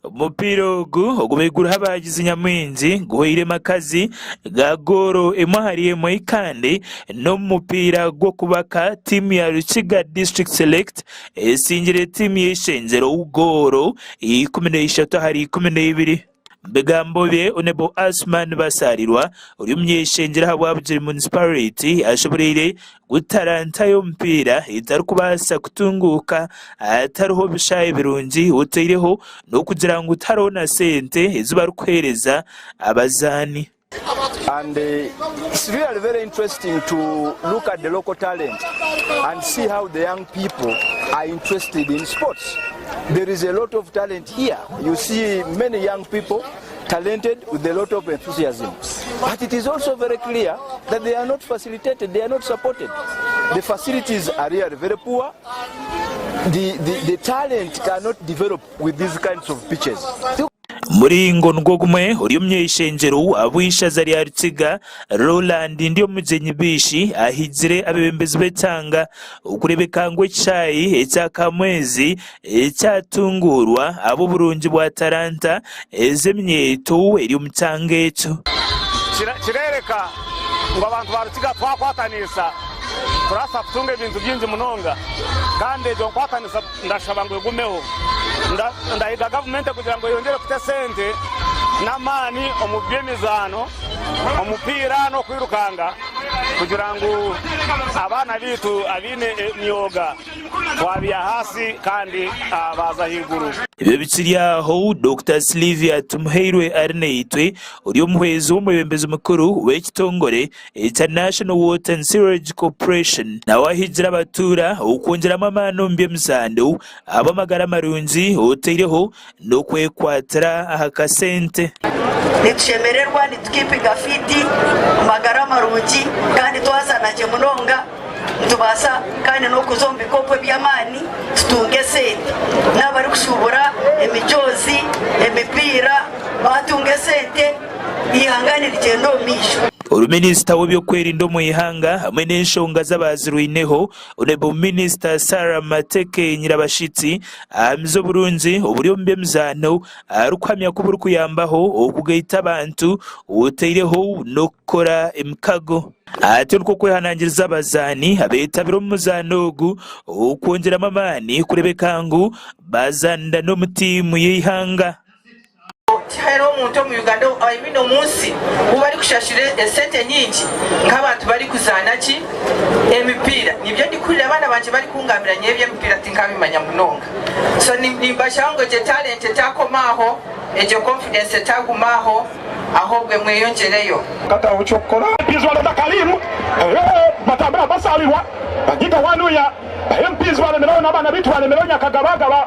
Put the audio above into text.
Omupiira ogu ogu baiguru abaagizi nyamwingi guhweire makazi ga gooro emwe ahari emwe kandi n'omupiira gw'okubaka tiimu ya Rukiga District Select etsingire tiimu y'eishengyero gooro ikumi na ishatu ahari ikumi na ibiri. Omu bigambo bye Onebo Asuman Basaarirwa ori omunyeshengyero aha Bwabugiri Munisipariti ashemereire Gu talanta y'omupiira etarikubaasa kutunguuka hatariho bishaayi birungi oteireho n'okugira ngu tihariho na sente ezi barikuheereza abazaani. And it's really very interesting to look at the local talent and see how the young people are interested in sports. There is a lot of talent here. You see many young people. talented with a lot of enthusiasm but it is also very clear that they are not facilitated, they are not supported. The facilities are really very poor. The, the, the talent cannot develop with these kinds of pitches. Muringo nigwo gumwe ori omu ishengyero ab'eishaza rya Rukiga, Roland Ndyomugyenyi Biishi ahigire abebembezi b'ekyanga okurebeka ngu ekishayi ekya Kamwezi Ekyatunguurwa abu oburungi bwa taranta ezo eminyeeto eri omu kyanga ekyo. Kireereka ngu abantu ba Rukiga twakwataniisa turabaasa kutunga ebintu bingi munonga kandi egyo nkwataniisa ndashaba ngu egumeho. Ndahiga gavumenti kugira ngu eyongyere kuta esente n'amaani omu by'emizaano, omupiira n'okwirukanga kugira ngu abaana baitu abaine emyoga, Twabire ahansi kandi baaza ahaiguru. Ebyo bikiri aho, Dokita Sylvia Tumuhairwe Arinaitwe, ori omuhwezi w'omwebembezi mukuru w'ekitongore ekya National Water and Sewerage Corporation, nawe ahiigire abatuura okwongyeramu amaani omu by'emizano ahabw'amagara marungi oteireho n'okwekwatira aha kasente. Nitushemererwa, nitukeepinga fiiti omu magara marungi, kandi twazaana gye munonga. Nitubaasa kandi n'okuza omu bikopo eby'amaani tutunge esente. N'abarikushuubura emijoozi, emipiira baatunga esente, eihanga nirigyenda omu maisho. Oru Minisita w'ebyokwerinda omu ihanga hamwe n'enshonga z'abaazirwaineho Honourable Minister Sarah Mateke Nyirabashitsi ahamize oburungi oburi omu by'emizaano arikuhamya ku burikuyambaho okugaita abantu otaireho n'okukora emikago. Ati Nikwo kwehanangiriza abazaani abeetabire omu muzaano ogu okwongyeramu amaani kureebeka ngu baazaanira n'omu tiimu y'eihanga. Tihaine omuntu omu Uganda ou I mean omu nsi ou barikushashura esente nyingi nk'abantu barikuzaana ki? Emipiira. Nibyo ndikuhurira abaana bangye barikungambira nyowe eby'emipiira tinkabimanya munonga. So nimbashaho ngu egyo talent etaakoma aho, egyo confidence etaaguma aho ahobwe mweyongyereyo. Nkataho eky'okukora. Mpizi bareeta Kaliiru eeh Batambira basaabirwa Banyiga Wanuya eeh Mpizi balemereho N'abaana baitu balemereho Nyakagabagaba